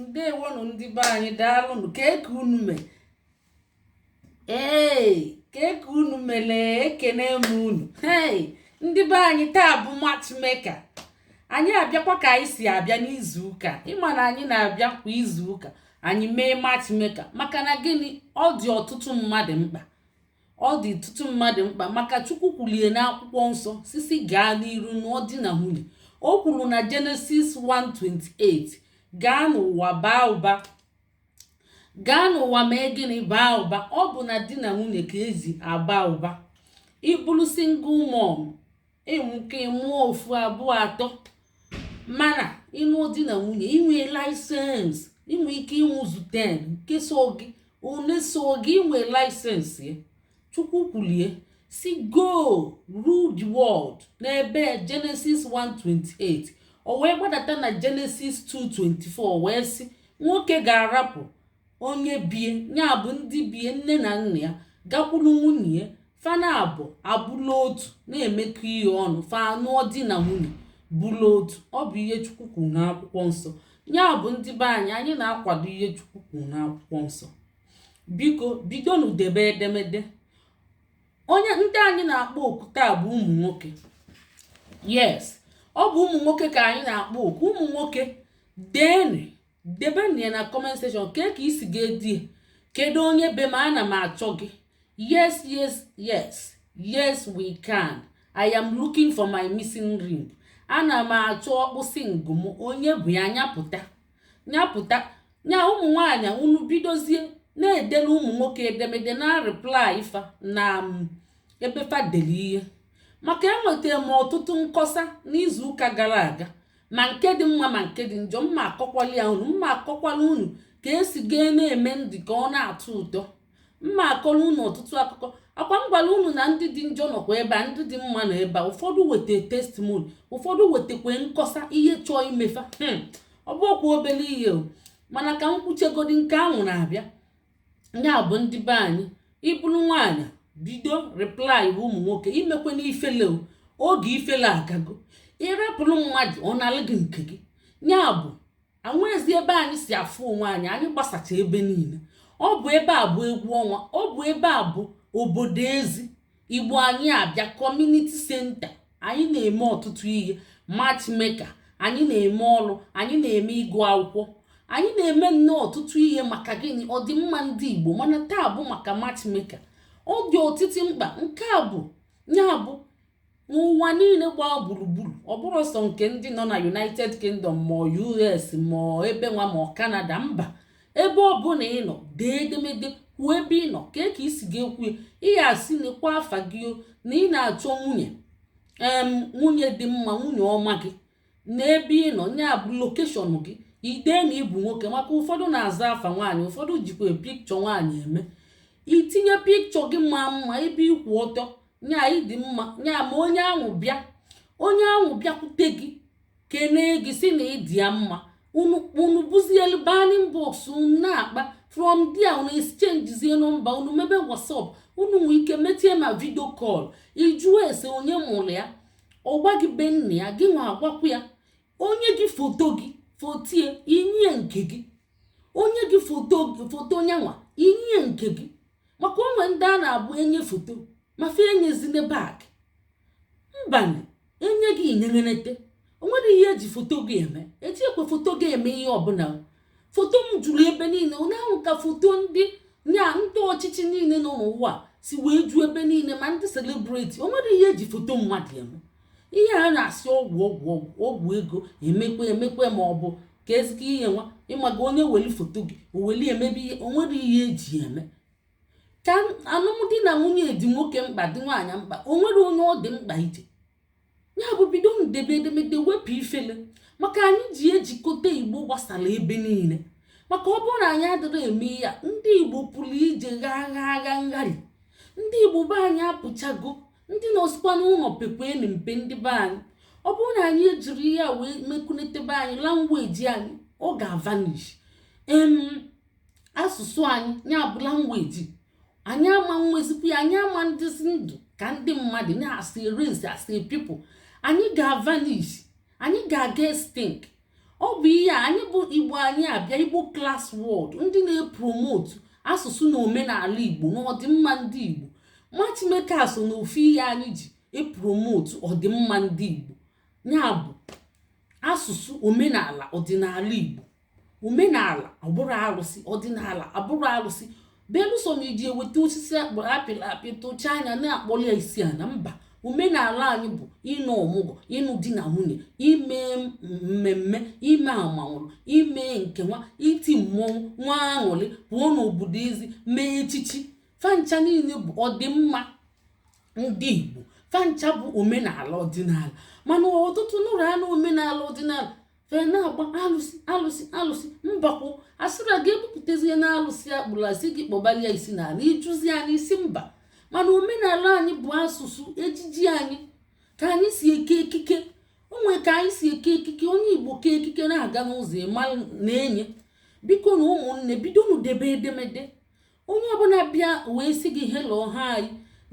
ndewonụ ndị be anyị daalụnụ kee ka unu mele kee ka unu mele ekene m unu hey ndị be anyị taa bụ matchmaker anyị abịakwa ka anyị si abịa n'izu ụka ị ma na anyị na-abịa kwa izu ụka anyị mee matchmaker maka na gịnị ọ dị ọtụtụ mmadụ mkpa ọ dị ọtụtụ mmadụ mkpa maka chukwu kwulu ya n'akwụkwọ nsọ sị sị gaa n'iru nụọ di na nwunye o kwuru na Genesis 1:28 gaa n'ụwa baa ụba gaa n'ụwa mee gịnị baa ụba ọ bụ na di na nwunye ka e si aba ụba ị bụrụ single mom i nwee ike mụọ ofu abụọ atọ mana ị nụọ di na nwunye i nwee license i nwee ike ịmụzu 10 nke sọ gị one sọ gị i nwee license ya chukwu kwulu ya sị go rule the world n'ebe Genesis 1:28 o wee gbadata na Genesis 2:24 wee sị nwoke ga-arapụ onye be ya ya bụ ndị be ya nne na nna ya gakwuru nwunye ya fa naabọ abụlụ otu na-emekọ ihe ọnụ fa anụọ di na nwunye bụlụ otu ọ bụ ihe chukwu kwuru n'akwụkwọ nsọ ya bụ ndị be anyị anyị na-akwado ihe chukwu kwuru n'akwụkwọ nsọ biko bidonu debe edemede onye ndị anyị na-akpọ oku taa bụ ụmụ nwoke yes ọ bụ ụmụ nwoke ka anyị na-akpọ oku ụmụ nwoke deenụ debenụ ya na comment section kee ka i si ga-ede kedu onye be m ana m achọ gị yes yes yes yes we can i am looking for my missing rib ana m achọ ọkpụsị ngụ m onye bụ ya nya pụta nya pụta nya ụmụ nwaanyị unu bidozie na-edere ụmụ nwoke edemede na-reply fa na um, ebe fa deli ihe maka enwetara m ọtụtụ nkọsa n'izuụka gara aga ma nke dị mma ma nke dị njọ mma akọkwala ya unu mma akọkwala unu ka e si ga na-eme ndị ka ọ na-atọ ụtọ mma akọrọ unu ọtụtụ akụkọ ọkwa m gwara unu na ndị dị njọ nọkwa ebe a ndị dị mma nọ ebe a ụfọdụ weta testimoni ụfọdụ wetakwa nkọsa ihe chọọ ime fa hmm. ọ bụrọkwa obere ihe o mana ka m kwuchegodi nke ahụ na-abịa nya bụ ndị be anyị ị bụrụ nwaanyị bido reply ụmụ nwoke emekwana ifele o, oge ifele agago ị rapụrụ mmadụ ọ nalụ gị nke gị ya bụ enwezi ebe anyị si afụ onwe anyị anyị gbasacha ebe niile ọ bụ ebe a bụ egwu ọnwa ọ bụ ebe a bụ obodo ezi igbo anyị abịa kọmuniti senta anyị na-eme ọtụtụ ihe matchmeka anyị na-eme ọrụ anyị na-eme ịgụ akwụkwọ anyị na-eme nnọọ ọtụtụ ihe maka gịnị ọdịmma ndị igbo mana taa bụ maka matchmeka ọ dị ọtụtụ mkpa nke a bụ ya bụ n'ụwa niile gbaa gburugburu ọ bụrọ sọ nke ndị nọ na united kingdom ma us ma ebe nwa ma canada mba ebe ọbụna ị nọ dee edemede kwuo ebe ị nọ kee ka i si ga-ekwu ihe a sị nekwa afa gị na ị na-achọ nwunye em nwunye dị mma nwunye ọma gị na ebe ị nọ ya bụ lokeshọn gị i dee na ị bụ nwoke maka ụfọdụ na-aza afa nwaanyị ụfọdụ jikwa pikchọ nwaanyị eme i tinye pikchọ gị ma mma ebe ị kwụ ọtọ nya ị dị mma nya ma onye ahụ bịa onye ahụ bịakwute gị kenee gị sị na ị dị ya mma unu unu buzielu ba n'inbox unu na-akpa from there unu exchangezie nọmba unu mebe whatsapp unu nwee ike meetie ma vidio kọl ị jụọ ese onye mụrụ ya ọ gwa gị be nna ya gị nwa agwakwa ya o nye gị foto gị fotie i nye nke gị o nye gị foto gị foto nya nwa i nye nke gị maka o nwe ndị a na-abụ e nye foto ma fa enyezine back mbanụ o nye gị inyenenete o nwerọ ihe e ji foto gị eme ejikwọ foto gị eme ihe ọbụla foto m juru ebe niile onye ahụ ka foto ndị nya ndị ọchịchị niile nọ n'ụwa si wee ju ebe niile ma ndị selebriti o nwerọ ihe e ji foto mmadụ eme ihe a na-asị ọgwụ ọgwụ ọgwụ ego emekwe emekwe ma ọ bụ ka ezike ihe nwa ịmaga onye weli foto gị o weli mebe ihe o nwerọ ihe e ji eme ka alụmdi na nwunye dị nwoke mkpa dị nwaanyị mkpa o nwere onye ọ dị mkpa ije ya bụ bido debe edemede wepụ ifele maka anyị ji ejikọta igbo gbasara ebe niile maka ọ bụrụ na anyị adịrọ eme ya ndị igbo pụrụ ije ghaa gha agha ngharị ndị igbo be anyị apụchago ndị nọzikwa n'ụlọ pekwanụ mpe ndị be anyị ọ bụrụ na anyị ejirọ ya wee mekunetebe anyị langweji anyị ọ ga-avanish em asụsụ anyị ya bụ langweji anyị ama enwezikwa ya anyị ama adịzi ndụ ka ndị mmadụ ya as a race as a people anyị ga-avanish anyị ga-aga extinct ọ bụ ihe anyị bụ igbo anyị abịa igbo klas wọd ndị na-epromotu asụsụ na omenala igbo na ọdịmma ndị igbo matchmeka so na ofu ihe anyị ji epromotu ọdịmma ndị igbo ya bụ asụsụ omenala ọdịnala igbo omenala abụrọ arụsị ọdịnala abụrọ arụsị belụsọ ma iji eweta osisi akpụrụ apịrị apị tụcha anya na-akpọrọ ya isi ana mba omenala anyị bụ ine ọmụgwọ ịnụ di na nwunye ime mmemme ime amanwụrụ ime nke a iti mmọnwụ nwa aṅụrị pụọ n'obodo ezi mee echichi fancha niile bụ ọdịmma ndị igbo fancha bụ omenala ọdịnala mana ọtụtụ nụrụ anụ omenala ọdịnala fee na-agba alụsị alụsị alụsị mbakwụ asịra ga-ebupụtazie na alụsị akpụrụ asị gị kpọbalia isi na ala ịjụzi anyị ị sị mba mana omenala anyị bụ asụsụ ejiji anyị ka anyị si eke ekike o nwe ka anyị si eke ekike onye igbo kee ekike na-aga n'ụzọ ịma na-enye bikonụ ụmụnne bidonụ debe edemede onye ọbụla bịa wee sị gị hello hi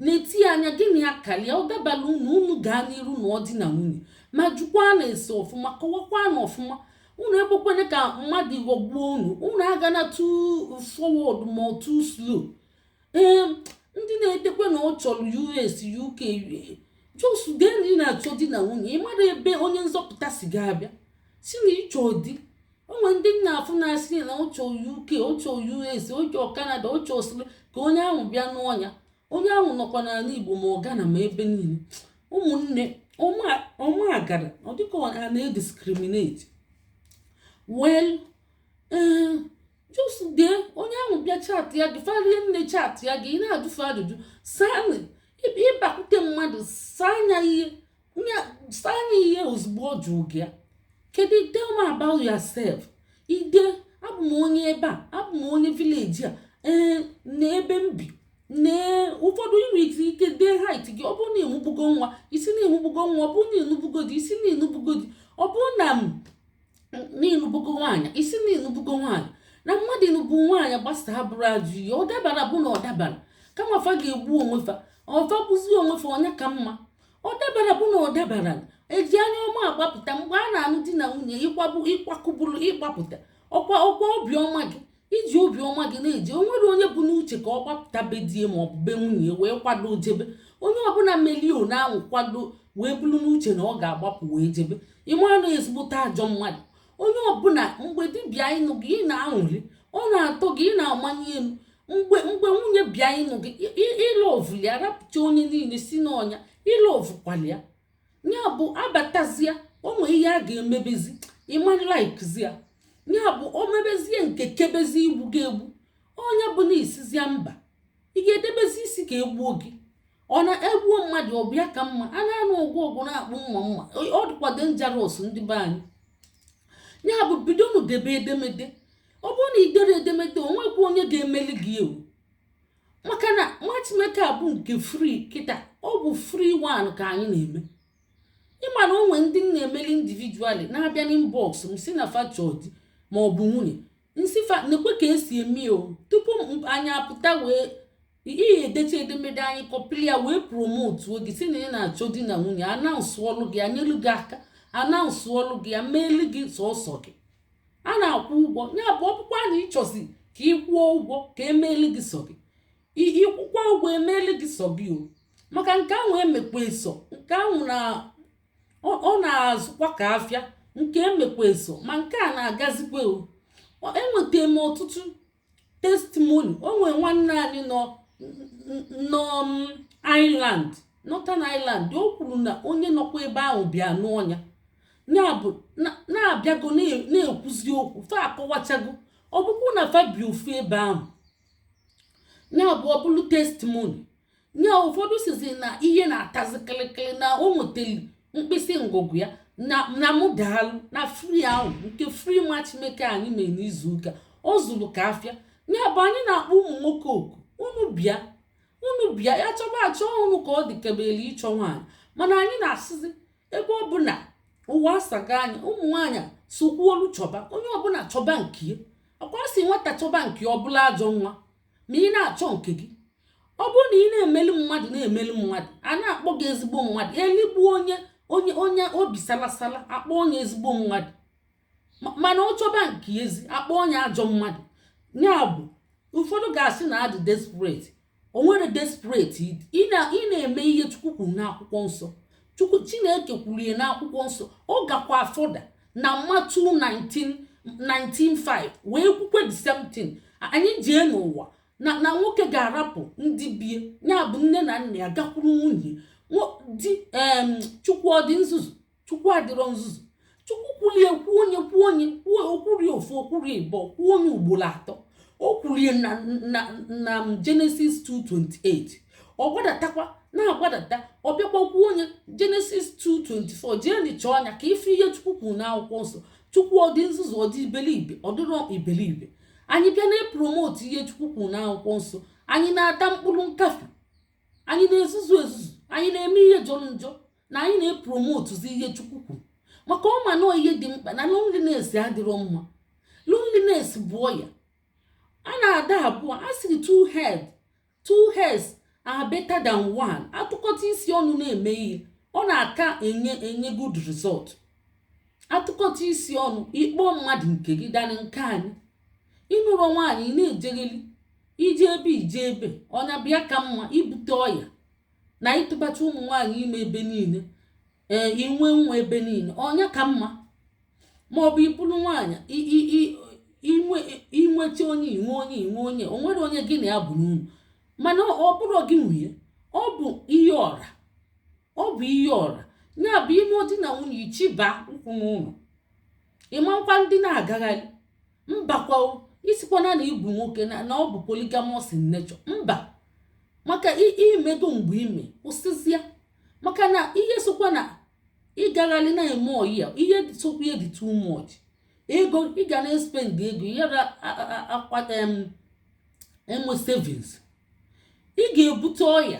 na-etinye anya gị na ya kalịa ọ dabala unu unu gaa n'iru nụọ di na nwunye ma jụkwanụ ese ọfụma kọwakwanụ ọfụma unu ekwekwene ka mmadụ ghọgbuo unu unu agana too forward ma too slow ee ndị na-edekwe na ọ chọrọ us uk just dee na ị na-achọ di na nwunye ị marọ ebe onye nzọpụta si ga-abịa sị na ị chọ di o nwe ndị m na-afụ na-asị na ọ chọ uk ọ chọ us ọ chọ canada ọ chọ osiri ka onye ahụ bịa nụọ nya onye ahụ nọkwa n'ala igbo ma ọ ghana ma ebe niile ụmụnne ọma agara ọ dịka a na-ediscriminate well eh, just dee onye ahụ bịa chaatịa gị fa rie nne chaatịa gị ị na-ajụ fa ajụjụ saa ị bakwute mmadụ saa anya ihe Nya ihe ozugbo ọ jụrụ gị ya. Kedu tell me about yourself. Ị dee abụ m onye ebe a, abụ m onye village a, ee na ebe m bi nee ụfọdụ i nwe ike dee height gị ọ bụrụ na ị mụbugo nwa ị sị na ị mụbugo nwa ọ bụrụ na ị nụbugo di ị sị na ị nụbugo di ọ bụrụ na ị nụbugo nwaanyị ị sị na ị nụbugo nwaanyị na mmadụ ịnụbu nwaanyị gbasa abụrọ ajọ ihe ọ dabara bụ na ọ dabara kama fa ga-egbu onwe fa ọ fa bụzi onwe fa onye ka mma ọ dabara bụ na ọ dabara eji anya ọma agbapụta mgbe a na-anụ di na nwunye ịkwabụ ịkwakụbụrụ ịgbapụta ọkwa ọkwa obiọma gị i ji obiọma gị na-eje o nwerọ onye bu n'uche ka ọ gbapụta be die ma ọ bụ be nwunye wee kwado jebe onye ọbụla melio na anwụ kwado wee buru n'uche na ọ ga-agbapụ wee jebe ị mara na ezigbote ajọ mmadụ onye ọbụla mgbe di bịa ịnụ gị ị na-aṅụlị ọ na-atọ gị ị na-amanye elu mgbe mgbe nwunye bịa ịnụ gị ị lọvụ ya rapụcha onye niile sị na ọ nya ị lọvụkwalị ya ya bụ abatazia o nwee ihe a ga-emebezi ị ma laikzi ya ya bụ o mebezie nke kebezie igbu gị egbu onye bụ na ị sịzịa mba ị ga-edebezi isi ka egbuo gị ọ na-egbuo mmadụ ọ bịa ka mma a na-anụ ọgwụ ọgwụ na-akpụ mma mma ọ dịkwa dangerous ndị be anyị ya bụ bidonụ debe edemede ọ bụrụ na i dere edemede o nwekwa onye ga-emeli gị ewu maka na matchmaker bụ nke free kịta ọ bụ free one ka anyị na-eme ị ma na o nwe ndị m na-emeli individually na-abịa n'inbox m si na fa chọ di ma ọ bụ nwunye m sị fa nekwe ka esi eme o tupu anyị apụta wee ihe edecha edemede anyị kọpịrị ya wee promotuo gị si na ị na-achọ di na nwunye anaunsụọlụ gị anyelu gị aka anaunsụọlụ gị ya meelu gị sọsọ gị a na-akwụ ụgwọ ya bụ ọ bụkwa na ị chọzi ka ị kwụọ ụgwọ ka emeelu gị sọ gị ị kwụkwa ụgwọ emeelu gị sọ gị o maka nke ahụ emekwa eso nke ahụ na ọ na-azụkwa ka afịa nke emekwa eso ma nke a na-agazikwa o enweta m ọtụtụ testimony o nwere nwanne anyị nọ Ireland Northern Ireland o kwuru na onye nọkwa ebe ahụ bịa nụọ nya ya bụ na abịago na-ekwuzi okwu fa akọwachago ọ bụkwa na fa bi ofu ebe ahụ ya bụ ọ bụrụ testimony nya ụfọdụ sizi na ihe na-atazi kịlịkịlị na o nweteli mkpịsị ngụgụ ya na mụ daalụ na free ahụ nke free matchmaker anyị mere n'izu ụka ọ zụrụ ka afịa ya bụ anyị na-akpọ ụmụ nwoke oku unu bịa unu bịa ya chọba achọ unu ka ọ dị kebele ịchọ nwaanyị mana anyị na-asịzi ebe ọ bụ na ụwa asago anya ụmụ nwaanyị sokwuolu chọba onye ọbụla chọba nke ya ọkwa sị nwata chọba nke ya ọ bụlụ ajọ nwa ma ị na-achọ nke gị ọ bụrụ na ị na-emeli mmadụ na-emeli mmadụ a na-akpọ gị ezigbo mmadụ eligbu onye onye onye obi salasala akpọọ nye ezigbo mmadụ mana ọ chọba nke yazi akpọọ nye ajọ mmadụ ya bụ ụfọdụ ga-asị na adị desperate o nwere desperate ị na-eme ihe chukwu kwuru n'akwụkwọ nsọ chukwu chineke kwuru ya n'akwụkwọ nsọ ọ gakwa further na Matthew 19:5 wee kwukwe the same thing anyị jee n'ụwa na na nwoke ga-arapụ ndị bie ya bụ nne na nna ya gakwuru nwunye di chukwu ọ dị nzuzu chukwu adịrọ nzuzu chukwu kwulie kwuo nye kwuo nye kwuo o kwurie ofu o kwurie ịbọ kwuo nye ugboro atọ o kwurie na na na Genesis 2:28 ọ gbadatakwa na-agbadata ọ bịakwa kwuo nye Genesis 2:24 jee nịchaa anya ka ị fụ ihe chukwu kwuru n'akwụkwọ nsọ chukwu ọ dị nzuzu ọ dị iberibe ọ dịrọ iberibe anyị bịa na-epromotu ihe chukwu kwuru n'akwụkwọ nsọ anyị na-ata mkpụrụ nkafe anyị na-ezuzu ezuzu anyị na-eme ihe jọrọ njọ na anyị na-epromotuzi ihe chukwu kwuru maka ọ ma na ọ ihe dị mkpa na loneliness adịrọ mma loneliness bụ ọya a na-adị abụọ a sịrị two head two heads are better than one atụkọta isi ọnụ na-eme ihe ọ na-aka enye enye good result atụkọta isi ọnụ ịkpọ mmadụ nke gị danị nke anyị ịnụrụ nwaanyị ị na-ejegheli ije ebe ije ebe ọ nya bịa ka mma ibute ọya na ịtụbacha ụmụ nwaanyị ime ebe niile ee inwe nwa ebe niile ọ nya ka mma ma ọ bụ ibulu nwaanyị inweta onye inwe onye inwe onye o nwere onye gị na ya bụ n'ụnọ mana ọ bụrụ gị nwunye ọ bụ ihe ọra ọ bụ ihe ọra ya bụ ime di na nwunye ịchịba ụkwụ n'ụlọ ị makwa ndị na-agagharị mbakwa ị sịkwana na ị bụ nwoke na na ọ bụ polygamous in nature mba maka i mego mgbe i me kwụsịzịa maka na ihe sokwa na ịgagharị na-eme ọyị ya ihe sokwa ya dị too much ego ị ga na-espend ego ya ga akwa eme savings ị ga-ebute ọya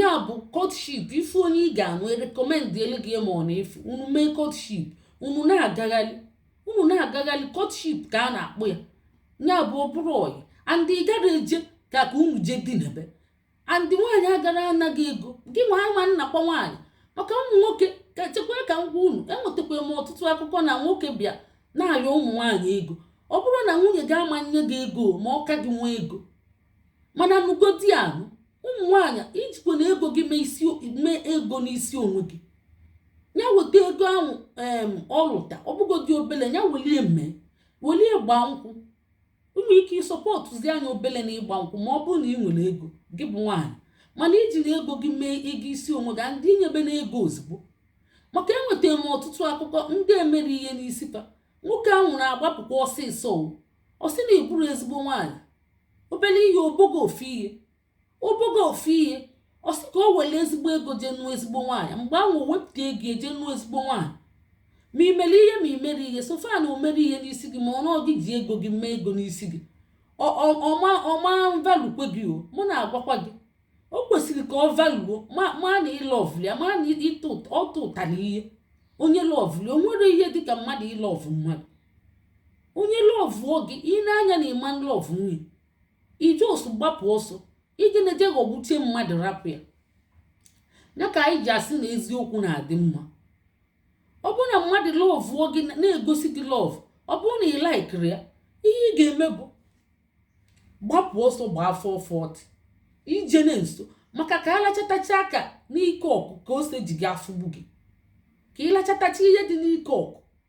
ya bụ courtship ị fụ onye ị ga-anụ recommendịelu gị ma ọ na-efu unu mee courtship unu na-agagharị unu na-agagharị courtship ka a na-akpọ ya ya bụ ọ bụrụ ọyị and ị gara eje ka ka unu jee dinner and nwaanyị agara ana gị ego gị nwa ama nakwa nwaanyị maka ụmụ nwoke ka chekwa ka m gwa unu enwetakwa m ọtụtụ akụkọ na nwoke bịa na-arịọ ụmụ nwaanyị ego ọ bụrọ na nwunye gị ama nye gị ego ma ọ ka gị nwee ego mana nụgodi anụ ụmụ nwaanyị ijikwana ego gị mee isi mee ego n'isi onwe gị ya weta ego ahụ em ọ lụta ọ bụgodị obele ya welie mee welie gbaa nkwụ i nwe ike ịsupportụzia nya obele na ịgba nkwụ ma ọ bụrụ na ị nwere ego gị bụ nwaanyị mana ijina ego gị mee ego isi onwe gị and inyebena ego ozugbo maka enwetara m ọtụtụ akụkọ ndị e mere ihe n'isi fa nwoke ahụ na-agbapụkwa ọsịsọ o ọ sị na ị bụrọ ezigbo nwaanyị obele ihe o bogo ofu ihe o bogo ofu ihe ọ sị ka o were ezigbo ego jee nụọ ezigbo nwaanyị mgbe ahụ o wepụta ego eje nụọ ezigbo nwaanyị ma i mere ihe ma i mere ihe so far na o mere ihe n'isi gị ma ọ na ọ gị ji ego gị mee ego n'isi gị Ọ- ọ- ọ ma ọ ma valuekwe gị o mụ na-agwakwa gị o kwesịrị ka ọ valuo ma ma na ị lọvụ ya ma na ịtụ ụt- ọtụ ụtara ihe onye lọvụ ya o nwere ihe dịka mmadụ ịlọvụ mmadụ onye lọvụọ gị i nee anya na ị ma lọvụnwu nya ije ọsọ gbapụ ọsọ ijena eje ghọgbuchie mmadụ rapụ ya ya ka anyị ji asị na eziokwu na-adị mma ọ bụrụ na mmadụ lọvụọ gị na-egosi gị lọvụ ọ bụrụ na ị laikirọ ya ihe ị ga-eme bụ gbapụ ọsọ gbaa four forty ijena nso maka ka a lachatacha aka n'ike ọkụ ka ose ji gị afụgbu gị ka ị lachatacha ihe dị n'ike ọkụ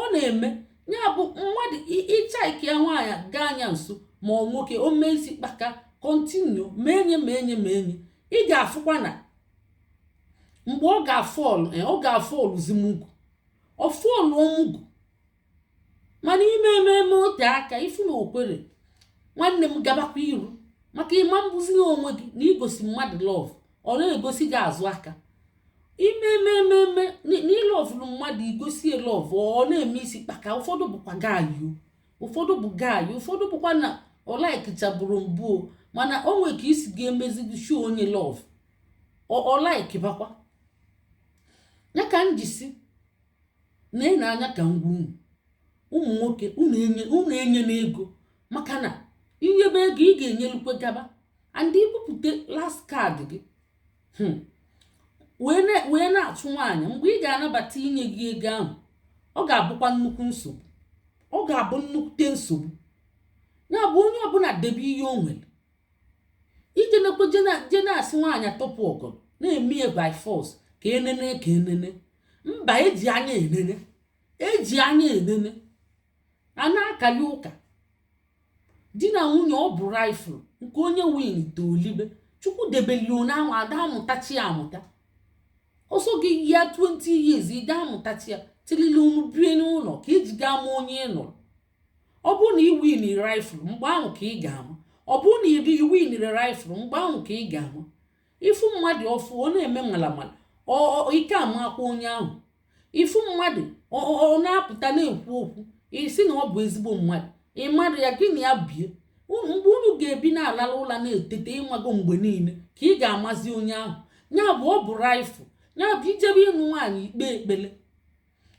ọ na-eme ya bụ mmadụ ịchaịkịa nwaanyị gaa anya nso ma ọ nwoke o mee isi kpaka continue ma enye ma enye ma enye ị ga-afụkwa na mgbe ọ ga-afọlụ eh, ọ ga-afọlụzi mugu ọ fọlụọ mugu mana i mee mee mee o tee aka ị fụ na o kwere nwanne m gabakwa iru maka ịma mbụzi na onwe gị na-egosi mmadụ love ọ na-egosi gị azụ aka imemememe n'ịlọvụrụ mmadụ i gosi ya love ọ na-eme isi kpaka ụfọdụ bụkwa gayu ụfọdụ bụ gayu ụfọdụ bụkwa na ọ laikichaburu mbụ mana o nwere ka i si ga-emezi show onye love ọ laikibakwa ya ka m jisi na ị na-anya ka ngwa unu ụmụ nwoke unu enye unu enyena ego maka na i nyebe ego ị ga-enyelukwe gaba and i bupụta last card gị hmm. wee na-achụ nwaanyị mgbe ị ga-anabata inye gị ego ahụ ọ ga-abụkwa nnukwu nsogbu ọ ga-abụ nnukwute nsogbu ya bụ onye ọbụla debe ihe o nwere ije nekwe je na-asị nwaanyị tọpụ ọgọdọ na-eme ya by force ka enene ka enene mba eji anya enene eji anya enene a na-akali ụka di na nwunye ọ bụ raffle nke onye winta o libe chukwu debelio na ahụ a da-amụtacha ya amụta ọ sọ gị yia 20 years ị da-amụtacha ya till unu bie n'ụlọ ka i ji ga-ama onye ị nụrụ ọ bụrụ na ị winiri raffle mgbe ahụ ka ị ga-ama ọ bụrụ na ị winirọ raffle mgbe ahụ ka ị ga-ama ị fụ mmadụ ọfụ ọ na-eme malamala ị ka amakwa onye ahụ ị fụ mmadụ ọ na-apụta na-ekwu okwu ị sị na ọ bụ ezigbo mmadụ ị madụ ya gị na ya bie mgbe unu ga-ebi na-alala ụla na-etete ịmago mgbe niile ka ị ga-amazi onye ahụ ya bụ ọ bụ raffle ya bụ i jebe ịnụ nwaanyị i kpee ekpele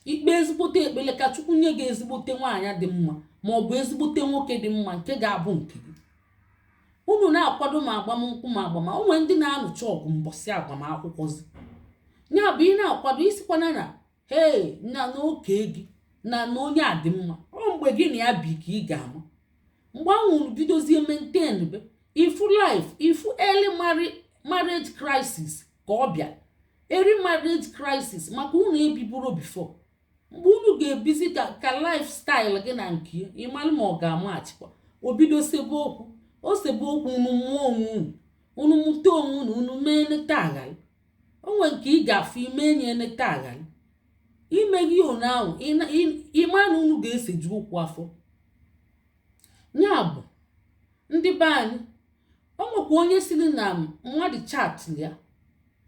i kpee ezigbote ekpele ka chukwu nye gị ezigbote nwaanyị dị mma ma ọ bụ ezigbote nwoke dị mma nke ga-abụ nke gị unu na-akwado ma agbamnkwụ ma agbama o nwe ndị na-anụcha ọgụ mbọsị agbamakwụkwọzi ya bụ ị na-akwado ị sịkwana na hee na nwoke gị na na onye a dị mma ọ mgbe gị na ya bi ka ị ga-ama mgbe ahụ unu bidozie maintain be ị fụ life ị fụ early marriage crisis ka ọ bịa early marriage crisis maka unu ebiburọ before mgbe unu ga-ebizi ka ka lifestyle gị na nke ị malụ ma ọ ga-amachịkwa o bido sebe okwu o sebe okwu unu mụọ onwe unu unu mụta onwe unu unu mee e neta a ghara o nwe nke ị ga-afụ i mee ya e neta a ghara i meghị one ahụ ị ma na unu ga-eseju okwu afọ ya bụ ndị be anyị o nwekwa onye siri na mmadụ chat ya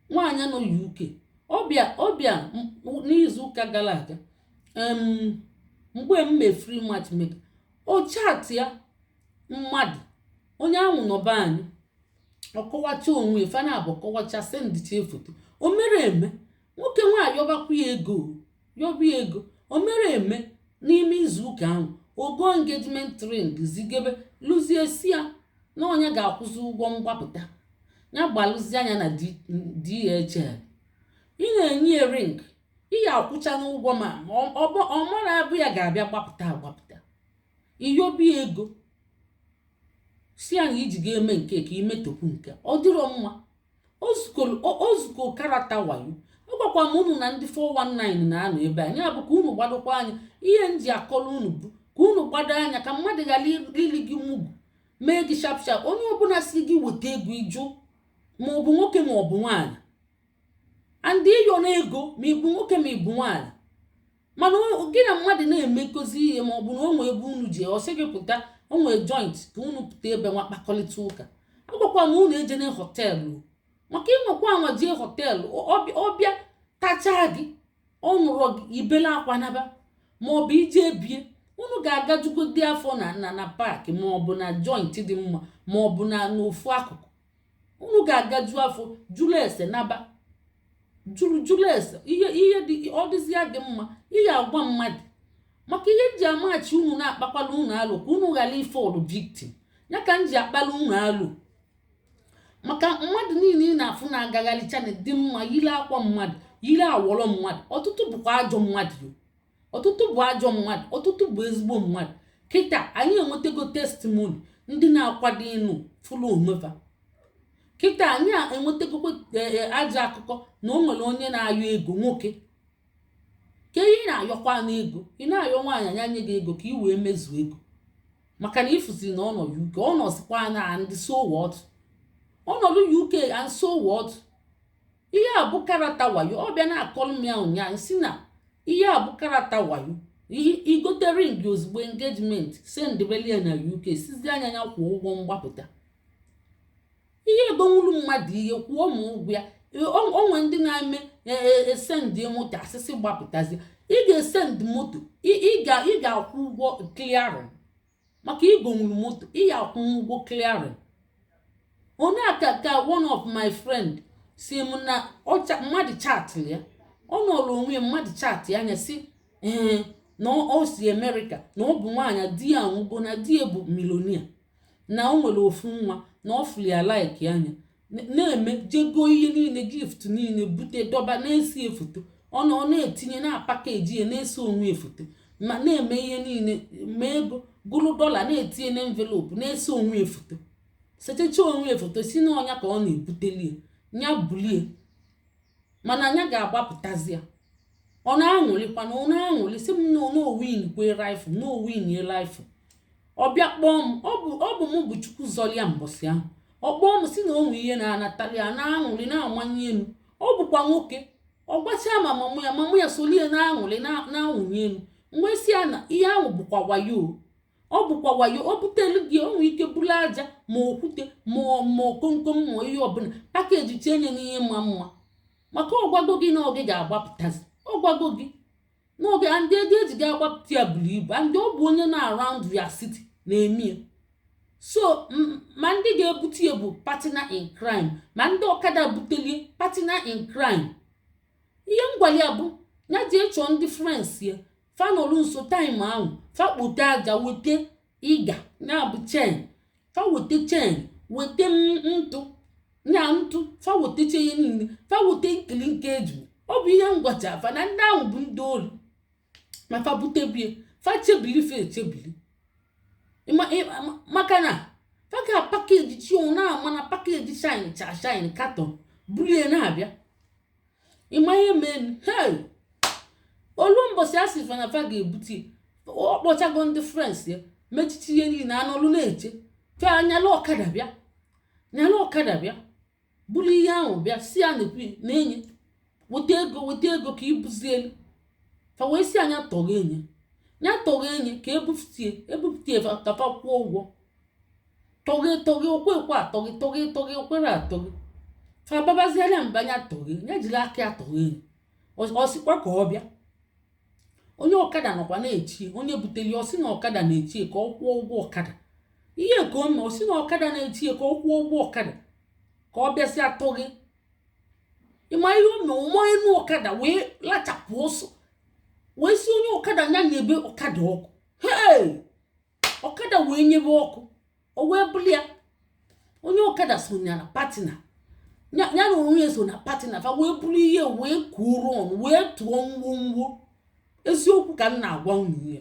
nwaanyị nọ uk ọ bịa ọ bịa n'izu ụka gara aga mgbe m mee free matchmaker o chat ya mmadụ onye ahụ nọ be anyị ọ kọwacha onwe ya fa naabọ kọwacha sendịcha foto o mere eme nwoke nwa yọbakwa ya ego yọba ya ego o mere eme n'ime izu ụka ahụ o go engagement ring zigebelụzie si ya na ọ nya ga-akwụzi ụgwọ mgbapụta ya gbalụzia nya na D- DHL ị na-enye ya ring ị ya-akwụchanụ ụgwọ ma ọ- ọ bụ- ọ mara abụ ya ga-abịa gbapụta agbapụta ị yọba ya ego si ya na i ji ga-eme nke ka i metopụ nke ọ dịrọ mma o zugo karata wayo agwakwa m unu na ndị 419 na-anọ ebe a nya bụ ka unu gbadokwa anya ihe m ji akọrọ unu bụ ka unu gbado anya ka mmadụ ghara ili gị mugu mee gị sharp sharp onye ọbụla si gị weta ego ị jụ ma ọ bụ nwoke ma ọ bụ nwaanyị and ayọna ego ma ị bụ nwoke ma ị bụ nwaanyị mana gị na mmadụ na-emekọzi ihe ma ọ bụ na o nwee ebe unu ji ọ sị gị pụta o nwee joint ka unu pụta ebe nwa kpakọrịta ụka agwakwa m unu ejena họteelụ maka ị nwakwa anwa jee họteelụ ọ bịa tachaa gị ọ nụrọ gị i bele akwa naba ma ọ bụ i je be ya unu ga-agajugodi afọ na na na park ma ọ bụ na joint dị mma ma ọ bụ na n'ofu akụkụ unu ga-agaju afọ jụrụ ese naba jụrụ jụrụ ese ihe ihe dị ọ dịzia gị mma ị ya-agwa mmadụ maka ihe m ji amachi unu na-akpakwalụ unu alo ka unu ghara ifọlụ victim ya ka m ji akpalụ unu alo maka mmadụ niile ị na-afụ na-agagharịcha na-adị mma yiri akwa mmadụ yiri awọrọ mmadụ ọtụtụ bụkwa ajọ mmadụ ọtụtụ bụ ajọ mmadụ ọtụtụ bụ ezigbo mmadụ kịta anyị enwetago testimony ndị na-akwado ịnụ fụlụ onwe fa kịta anyị enwetagokwa eh, eh, ajọ akụkọ na o nwere onye na-ayọ ego nwoke kee ihe ị na-ayọkwanụ ego ị na-ayọ nwaanyị nya nye gị ego ka ị wee mezuo ego maka na ị fụzi na ọ nọ uk ọ nọzikwa and so what ọ nọdụ uk and so what ihe a bụ karata wayo ọ bịa na-akọrọ m ya ụnyaahụ si na ihe a bụ karata wayo i gote ring ozugbo engagement sendbelụ ya na uk sịzia nya nya kwụọ ụgwọ mgbapụta ị ya-egonwuru mmadụ ihe kwụọ ma ụgwọ ya o nwe ndị na-eme e sendị e, e, e moto a sị sị gbapụtazi ị ga-esendị moto ị ga-akwụ ụgwọ clearing maka i gonwuru moto ị ya-akwụ ụgwọ clearing onye a ka ka one of my friend si m na ọ cha- mmadụ chatịrị ya ọ nọrọ onwe ya mmadụ chatịa nya si ya na o o si amerịka na ọ bụ nwaanyị di ya anwụgo na di ya bụ millionaire na o nwere ofu nwa na ọ fụrụ ya laikia nya na-eme jee goo ihe niile gift niile bute dọba na-ese ya foto ọ na ọ na-etinye na pakeji ya na-ese onwe ya foto ma na-eme ihe niile ma ego gụrụ dọla na-etinye na envelope na-ese onwe ya foto sechecha onwe ya foto si na ọ nya ka ọ na-ebuteli ya nya bulie mana nya ga-agbapụtazi ya ọ na-aṅụrịkwa na ọ na-aṅụrị si m na o winikwe rifụ na o wini rifụ ọ bịa kpọọ m ọ bụ m bụ chukwu zọrọ ya mbọsị ahụ ọ kpọọ m si na o nwe ihe na-anatali ya na-aṅụrị na-amanye elu ọ bụkwa nwoke ọ gwachaa ma mum ya mum ya solie na-aṅụrị na-awụnye elu m wee si ya na ihe ahụ bụkwa wayo ọ bụkwa wayo o butelu gị o nwere ike buru aja ma okwute ma ma komkom ma ihe ọbụla pakejichenye n'ihe ma mma maka ọ gwago gị na ọ gị ga-agbapụtazi ọ gwago gị n'ọ gị and ego e ji ga-agbapụta ya buru ibu and ọ bụ onye nọ around your city na-eme ya so ma ndị ga-ebute ya bụ partner in crime ma ndị ọkada butelie partner in crime ihe m gwali ya bụ nya jee chọọ ndị friends ya fa nọrọ nso time ahụ fa kpote aja weta ịga ya bụ chain fa weta chain weta m- ntụ ya ntụ fa wetacha ihe niile fa weta nkili nke eju ọ bụ ihe m gwacha fa na ndị ahụ bụ ndị ori ma fa butebie fa chebiri fa echebiri Ịma- ịma- ma- maka na fa ga pakejichi na-ama na pakeji shinecha shine carton bulie na-abịa ị ma ihe mee hei o lu mbọsị a sị fa na fa ga-ebute ọ kpọchago ndị friends ya mechacha ihe niile a nọlụ na-eche fa nyalụ ọkada bịa nyalụ ọkada bịa buru ihe ahụ bịa si ya na-ekwu na nya weta ego weta ego ka e buzielu fa wee si nya toghenye nya toghenye ka e bupụtie e bupụtie fa ka fa kwụọ ụgwọ toghe toghe o kwekwe atoghe toghe toghe o kwere atoghe fa babaziela ya mba nya toghe ya jiri aka ya toghe ọ sịkwa ka ọ bịa onye ọkada nọkwa na-eche onye butere ya ọ sị na ọkada na-eche ka ọ kwụọ ụgwọ ọkada ihe ka o mee ọ sị na ọkada na-eche ka ọ kwụọ ụgwọ ọkada ka ọ bịasịa toghe ị ma ihe o mee ọ manye enu ọkada wee lachapụ ọsọ wee si onye ọkada ya nyebe ọkada ọkụ hei ọkada wee nyebe ọkụ o wee buli ya onye ọkada so ya na partner ya ya na onwe ya so na partner fa wee buru ihe wee kuoro ọnụ wee tụọ ngwongwo eziokwu ka m na-agwa unu ihe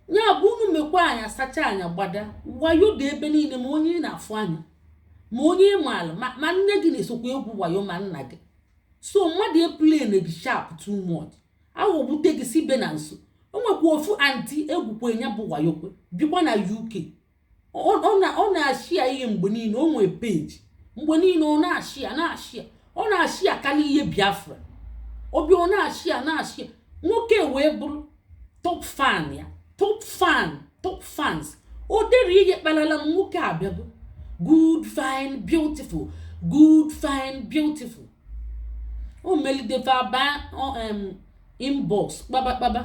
ya bụ unu mekwa anya sacha anya gbada wayo dị ebe niile ma onye ị na-afụ anya ma onye ị maara ma ma nne gị na-esokwa egwu wayo ma nna gị so mmadụ eplene gị sharp too much aghọgbute gị si be na nso o nwekwa ofu anti e gwukwe ya bụ wayokwe bikwa na uk ọ na-ashia ihe mgbe niile o nwee page mgbe niile ọ na-ashia na-ashia ọ na-ashiakarị ihe biafra obi ọ na-ashia na-ashia nwoke wee bụrụ top fan ya top fan top fans o dere ihe kpalalam nwoke abịago good fine beautiful good fine beautiful o melide fa aba inbox kpaba kpaba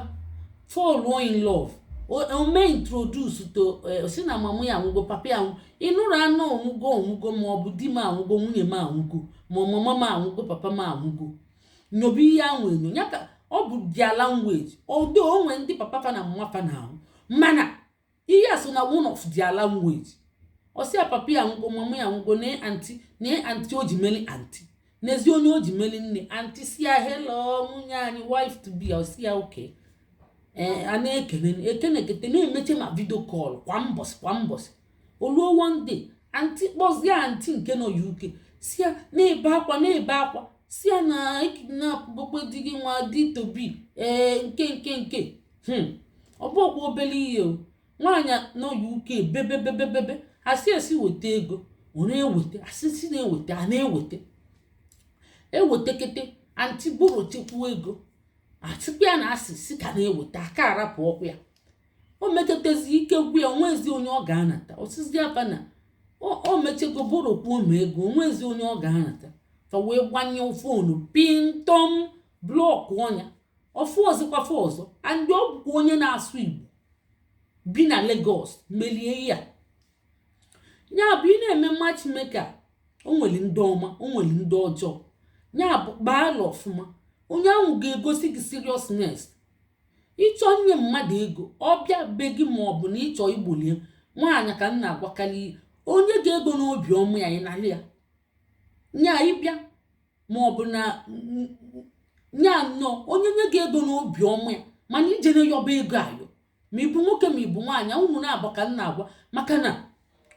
fall in love o mee introduce to eh, sị na mama ya anwụgo papa ya anwụ ị nụrụ anụ ọ nwụgo ọ nwụgo ma ọ bụ di m anwụgo nwunye m anwụgo ma ọ mama m anwụgo papa m anwụgo nyobe ihe ahụ enyo ya ka ọ bụ their language although o nwe ndị papa fa na mama fa na-anwụ mana ihe a so na one of their language ọ sị ya papa ya nwụgo mama ya nwụgo nee anti nee anti o ji meli anti n'ezi onye o ji meli nne anti sị ya hello nwunye anyị wife to be ọ sị ya okay a na-ekene ekene ekete na-emeche ma video call kwa mbọsị kwa mbọsị o luo one day anti kpọzie anti nke nọ uk sị ya na-ebe akwa na-ebe akwa sị ya na ekidnapgokwe di gị nwa di to be ee nke nke nke hmm. ọ bụrọkwa obere ihe o nwaanyị nọ uk bebebebebebe a sị esi weta ego ọ na-eweta a sị si na-eweta a na-eweta ewetekete anti borrow chekwuo ego achụkwa ya na a sị si ka na-eweta aka arapụrọkwa ya o meketezi ike gwu ya o nwezi onye ọ ga-anata ọ sị sị fa na o mechego borrow kwuo ma ego o nwezi onye ọ ga-anata fa wee gbanyụọ phone pintọm blọkụọ nya ọ fụrọzikwa fa ọzọ and ọ bụkwa onye na-asụ igbo bi na Lagos melie ya ya bụ ị na-eme matchmaker o nwere ndị ọma o nwere ndị ọjọọ ya bụ gbaala ọfụma onye ahụ ga-egosi gị seriousness ị chọọ inye mmadụ ego ọ bịa be gị ma ọ bụ na ịchọ igbolie nwaanyị ka m na-agwakarị o nye gị ego n'obi ọma ya ị nalị ya nya ịbịa ma ọ bụ na ya nọ onye nye gị ego n'obi ọma ya mana ijere yọba ego ayọ ma ịbụ nwoke ma ịbụ nwaanyị unu naabọ ka m na-agwa maka na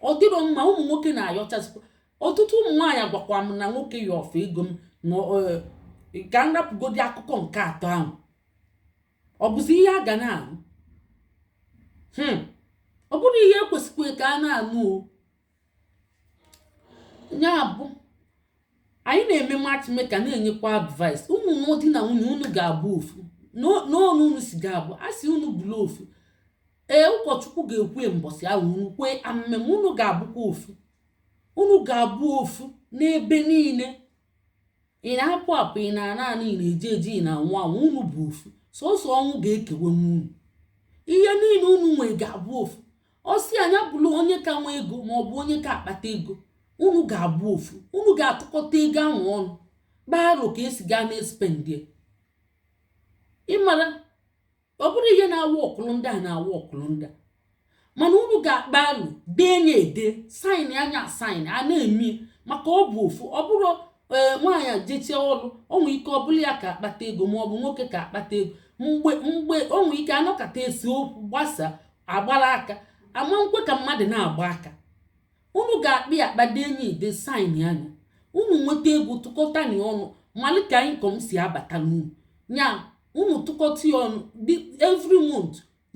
ọ dịrọ mma ụmụ nwoke na-ayọchazikwa ọtụtụ ụmụ nwaanyị agwakwa m na nwoke yọ fa ego m na e, ka m rapụgodi akụkọ nke atọ ahụ ọ bụzi ihe a ga na-anụ hmm. ọ bụrụ ihe ekwesịkwa ka a na-anụ o ya bụ anyị na-eme matchmaker na-enyekwa advice unu na di na nwunye unu ga-abụ ofu n'ọnụ unu si ga-abụ a sị unu bụrụ ofu ee ụkọchukwu ga-ekwu mbọsị ahụ unu kwee amen unu ga-abụkwa ofu unu ga-abụ ofu n'ebe niile ị na-apụ apụ ị na-ana ana ị na-eje eje ị na-anwụ anwụ unu bụ ofu sọsọ ọnwụ ga-ekewanwu unu ihe niile unu nwee ga-abụ ofu ọ sị nya bụrụ onye ka nwe ego ma ọ bụ onye ka akpata ego unu ga-abụ ofu unu ga-atụkọta ego ahụ ọnụ kpaa aro ka esi gaa na-espendie ịmara ọ bụrụ ihe na-awa ọkụlụ ndị a na-awa ọkụlụ ndị a mana unu ga-akpa alo dee nya ede saịnịa nya asaịn a na-eme maka ọ bụ ofu ọ bụrụ ee nwaanyị jechie ọrụ o nwee ike ọ bụrụ ya ka akpata ego ma ọ bụ nwoke ka akpata ego mgbe mgbe o nwee ike anọkata esee okwu gbasaa agbara aka ama m ekwe ka mmadụ na-agba aka Unu ga-akpa ya akpa dee nya ede saịnịa nya. Unu nweta ego tụkọta nya ọnụ malụ ka income si abata n'ụnọ. Nya unu tụkọta ya ọnụ dị every month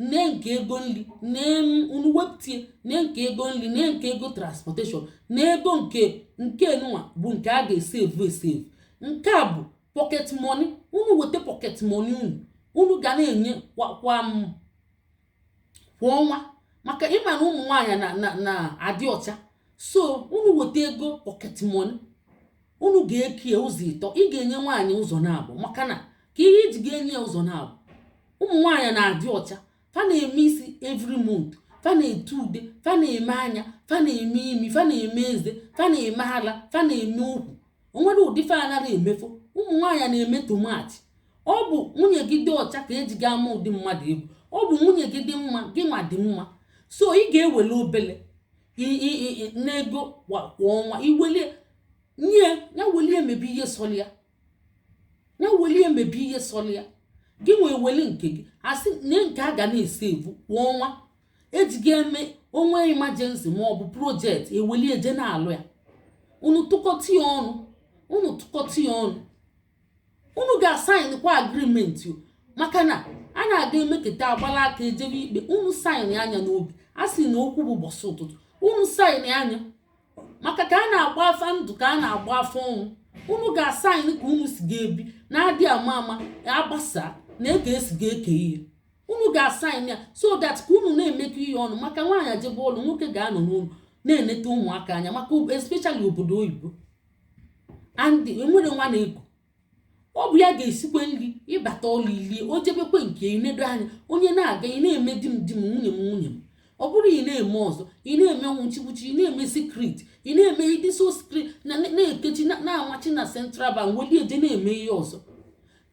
nee nke ego nri nee m unu wepụtie nee nke ego nri nee nke ego transportation nee ego nke nke nụwa bụ nke a ga-esevu esevu. Nke a bụ pocket money. Unu weta pocket money unu unu ga na-enye kwa kwa m kwa ọnwa maka ịma na ụmụ nwaanyị na na na adị ọcha so unu weta ego pocket money unu ga-ekie ụzọ ịtọ ị ga-enye nwaanyị ụzọ naabọ maka na ka ihe iji ga-enye ya ụzọ naabọ ụmụ nwaanyị na-adị ọcha fa na-eme isi every month fa na-ete ude fa na-eme anya fa na-eme imi fa na-eme eze fa na-eme ala fa na-eme ukwu onwere ụdị fa anaghị emefo ụmụ nwaanyị na-eme too much ọ bụ nwunye gị dị ọcha ka eji ga-ama ụdị mmadụ ị bụ ọ bụ nwunye gị dị mma gị nwa dị mma so ị ga-ewele obele n'ego kwa ọnwa iwelie nye ya welie mebe ihe sọrọ ya ya welie mebe ihe sọrọ ya gị nwa eweli nke gị a sị na nke a ga na-esevu kwa ọnwa eji ga-eme o nwee emergency ma ọ bụ project ewelie je na-alụ ya unu tụkọta ya ọnụ unu tụkọta ya ọnụ unu ga-asaịn kwa agrimenti maka na a na-aga emeketa agbala aka ejebe ikpe unu saịna nya n'obi a sị na okwu bụ ụbọchị ụtụtụ unu saịna nya maka ka a na-agba afa ndụ ka a na-agba afa ọnwụ unu ga-asaịn ka unu si ga-ebi na adị ama ama agbasa nee ka esi ga-eke ihe unu ga-asaịn ya so that ka unu na-emekọ ihe ọnụ maka nwaanyị ejebe ọlụ nwoke ga-anọ n'ụlọ na-eneta ụmụaka anya maka especially obodo oyibo and enwere nwa na-eku ọ bụ ya ga-esikwe nri ị bata ọlụ i lie o jebekwe nke ị nedo anya onye na-aga ị na-eme di m di m nwunye m nwunye m ọ bụrụ ị na-eme ọzọ ị na-eme nwụchikwuchi ị na-eme sikrit ị na-eme ị dị so sikrit na na-ekechi na-amachi na central bank weli eje na-eme ihe ọzọ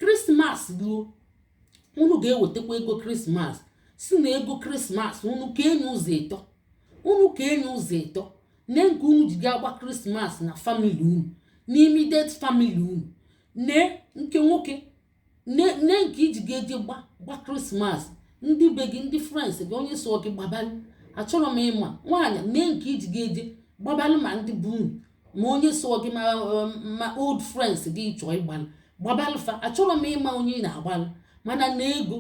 krismas ruo unu ga-ewetakwa ego krismas sị na ego krismas unu kee nye ụzọ ịtọ unu kee nye ụzọ ịtọ nee nke unu ji ga-agba krismas na famili unu na immediate famili unu nee nke nwoke nee nee nke iji ga-eje gba gba krismas ndị be gị ndị friends gị onye so gị gbabalụ achọrọ m ịma nwaanyị nee nke iji ga-eje gbabalụ ma ndị be unu ma onye so gị ma um, ma old friends gị ị chọọ ịgbalụ gbabalụ fa achọrọ m ịma onye ị na-agbalụ mana na ego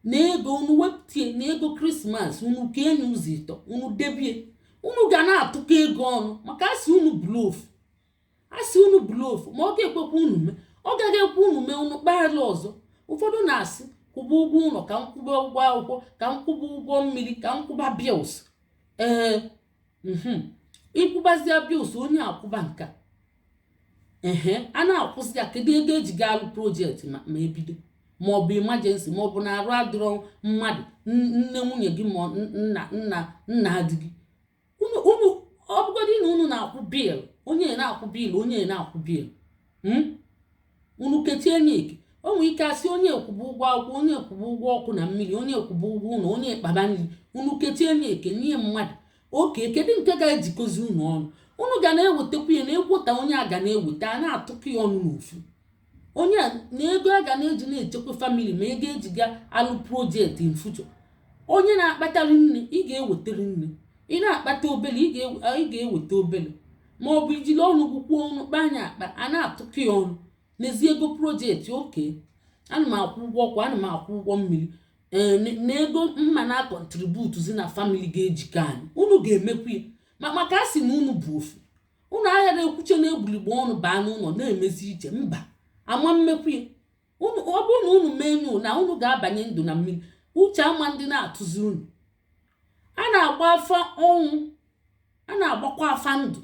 na ego unu wepụtie na ego krismas unu kee nye ụzọ ịtọ unu debie unu ga na-atụkọ ego ọnụ maka a sị unu bụlụ ofu a sị unu bụlụ ofu ma ọ ga-ekwekwa unu mee ọ gaghị ekwe unu mee unu kpaala ọzọ ụfọdụ na-asị kwụba ụgwọ ụlọ ka m kwụba ụgwọ akwụkwọ ka m kwụba ụgwọ mmiri ka m kwụba bils ee mhm. ị kwụbazia bils onye a kwụba nka ehe a na-akwụzi ya kedu ego eji ga alụ projekti ma ebido maọbụ imajensi maọbụ na arụ adịrọ mmadụ nne nwunye gị ma nna di gị unu ọ bụgodị na unu na-akwụ bil onye na-akwụ bil onye na-akwụ bil hmm? unu kechie nye eke o nwere ike asị onye a kwụba ụgwọ akwụkwọ onye a kwụba ụgwọ ọkụ na mmiri onye a kwụba ụgwọ ụlọ onye a kpaba nri unu kechie nye eke nye mmadụ oke kedu nke ga-ejikọzi unu ọnụ unu ga na-ewetakwu ya na egwota onye a ga na-eweta a na-atụkọ ya ọnụ n'ofu onye a na ego a ga na-eji na-echekwa famili ma ego eji ga alụ projekti in future onye na-akpata rinne ị ga-eweta rinne ị na-akpata obele ị ga-eweta obele ma ọ bụ ijiri ọnụ gị kwuo unu kpaa nya akpa a na-atụkọ ya ọnụ neezi ego projekti okay ana m akwụ ụgwọ ọkụ ana m akwụ ụgwọ mmiri ee n- na ego mma na-akọntributuzi na famili ga-ejikọ anyị unu ga-emekwu ya ma maka a sị na unu bụ ofu unu aghara ekwuche na egbuligbo unu baa n'ụlọ na-emezi iche mba ama m emekwu ya unu ọ bụrụ na unu mee nụ na unu ga-abanye ndụ na mmiri uche ama ndị na-atụzi unu a na-agba afa ọnwụ a na-agbakwa afa ndụ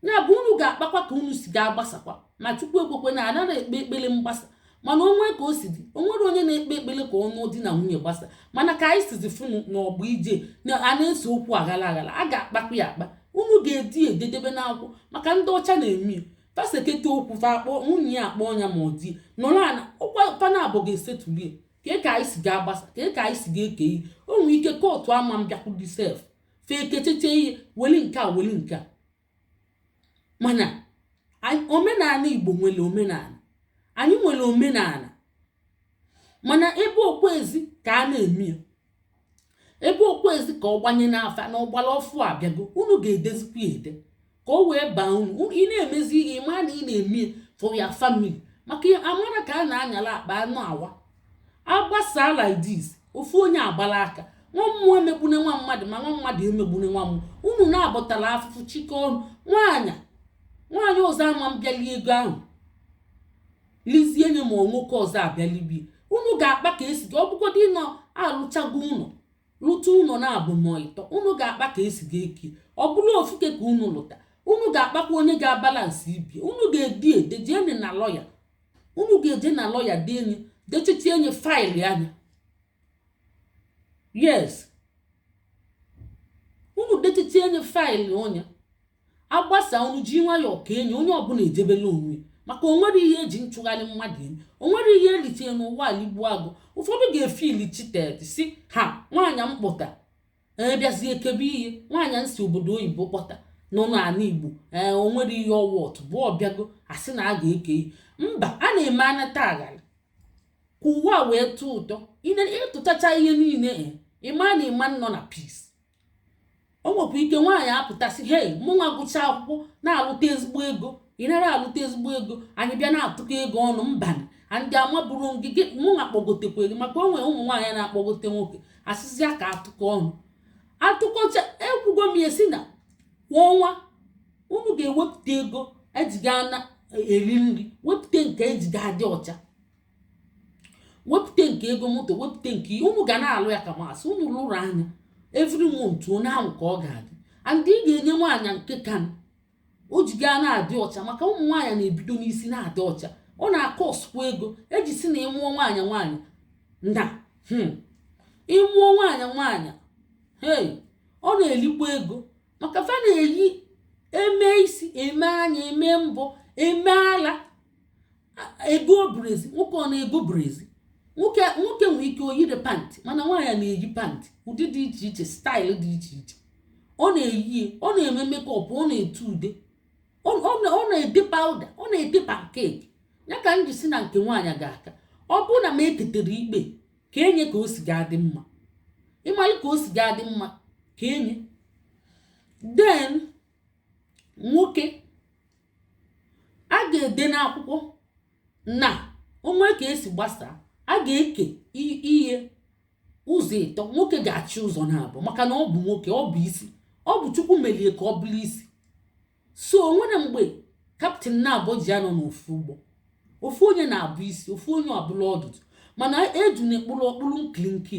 ya bụ unu ga-akpakwa ka unu si ga-agbasakwa ma chukwu ekwekwana anaghị ekpe ekpere mgbasa mana o nwe ka o si dị o nwere onye na-ekpe ekpere ka ọnụ di na nwunye gbasa mana ka anyị sizi funu n'ọgba ije na a na-ese okwu aghara aghara a ga-akpakwa ya akpa unu ga-ede ya ede debe n'akwụkwọ maka ndị ọcha na-eme ya fa seketa okwu fa akpọ nwunye ya akpọọ nya ma ọ di nọrọ ana ọ kwa fa naabụọ ga-esetulu ya kee ka anyị si ga-agbasa kee ka anyị si ga-eke ihe o nwere ike kootu ama mbịakwudi sef fa ekecheche ihe weli nke a weli nke a mana omenala igbo nwere omenala anyị nwere omenala mana ebe o kwezi ka a na-eme ya ebe o kwezi ka ọ gbanye n'afa na ọgbara ọfụ abịago unu ga-edezikwa ya ede ka o wee baa unu ị na-emezi ihe ị mara na ị na-eme ya for your family maka amara ka a na-anyala akpa ana awa agbasa like this ofu onye agbala aka nwa mmụọ emegbune nwa mmadụ ma nwa mmadụ emegbune nwa mmụọ unu naabọ tala afụfụ chịkọ ọnụ nwaanyị nwaanyị ọzọ ama mbịa lie ego ahụ lizie nye ma nwoke ọzọ abịa libe ya unu ga-akpa ka e si ga ọ bụgodị na alụchago ụlọ lụta ụlọ naabọ ma ịtọ unu ga-akpa ka e si ga-eke ya ọ bụrụ ofuke ka unu lụta unu ga-akpakwa onye ga-abalansị ibe ya unu ga-ede ya ede jee nye na lọya unu ga-eje na lọya dee nye dechichie nye faịlụọ nya yes unu dechichie nye faịlụọ nya agbasa unu ji nwayọọ kee nye onye ọbụla ejebela onwe maka o nwere ihe e ji nchụgharị mmadụ eme o nwere ihe e ritere n'ụwa aligbu agụ ụfọdụ ga-efiili cheated sị ha nwaanyị m kpọta ee bịazie kebe ihe nwaanyị m si obodo oyibo kpọta nọ n'ala igbo ee o nwere ihe ọ worth bụ ọ bịago a sị na a ga-eke ihe mba a na-eme anata aghara ka ụwa wee tọọ ụtọ ị tụtacha ihe niile ị ma na ị ma nọ na peace o nwekwa ike nwaanyị apụta sị hei mụnwa gụcha akwụkwọ na-alụta ezigbo ego ị narọ alụta ezigbo ego anyị bịa na-atụkọ ego ọnụ mba and amaburu gị gị mụnwa kpọgotekwa gị maka o nwere ụmụ nwaanyị na-akpọgote nwoke a sịzịa ka atụkọ ọnụ atụkọcha ekwugo m ya sị na kwa ọnwa unu ga-ewepụta ego e ji ga na-eri nri wepụta nke e ji ga-adị ọcha wepụta nke ego moto wepụta nke unu ga na-alụ ya ka masị unu lụrụọ nya every month otu ahụ ka ọ ga-adị and ị ga-enye nwaanyị nke ka o ji ga na-adị ọcha maka ụmụ nwaanyị na-ebido n'isi na-adị ọcha ọ na-akọsụkwa ego e ji sị na ị mụọ nwaanyị nwaanyị na hmm, ị mụọ nwaanyị nwaanyị hey ọ na-elikwa ego maka fa na-eyi eme isi eme anya eme mbọ eme ala ego brezịa nwoke ọ na-ego brezịa nwoke nwere ike oyiri pantị mana nwaanyị na-eyi pantị ụdị dị iche iche style dị iche iche ọ na-eyi ọ na-eme makeup ọ na-ete ude ọ na-ete powder ọ na-ete pancake ya ka m ji sị na nke nwaanyị ga-aka ọ bụrụ na m eketere ikpe ka enye ka o si ga-adị mma ị malụ ka o si ga-adị mma ka enye then nwoke a ga-ede n'akwụkwọ na o nwee ka e si gbasaa a ga-eke ihe ụzọ ịtọ nwoke ga-achị ụzọ naabọ maka na ọ bụ nwoke ọ bụ isi ọ bụ chukwu melie ka ọ bụrụ isi so o nwere mgbe captain naabọ ji anọ n'ofu ụgbọ ofu onye na-abụ isi ofu onye abụlụ ọdụdụ mana ejune kpụlụ ọ kpụlụ nkilinko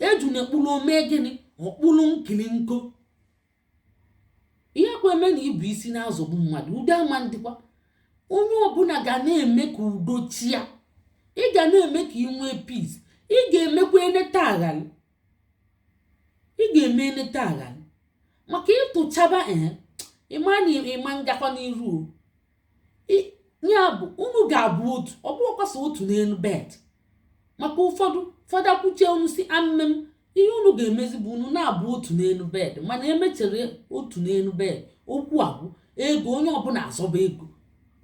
ejune kpụlụ o mee gịnị ọ kpụlụ nkilinko ihe kwa emena ịbụ isi na-azọgbu mmadụ udo ama ndịkwa onye ọbụla ga na-eme ka udo chịa ị ga na-eme ka ị nwee peace ị ga-emekwa eneta aghalị ị ga-eme eneta aghalị maka ị tụchaba ee ị ma na ị ma ngakwa n'iru o ya bụ unu ga-abụ otu ọ bụrọkwa sọ otu n'elu bed maka ụfọdụ fada kwuchie unu sị amen ihe unu ga-emezi bụ unu na-abụ otu n'elu bed mana emechere otu n'elu bed okwu abụ ego onye ọbụla azọba ego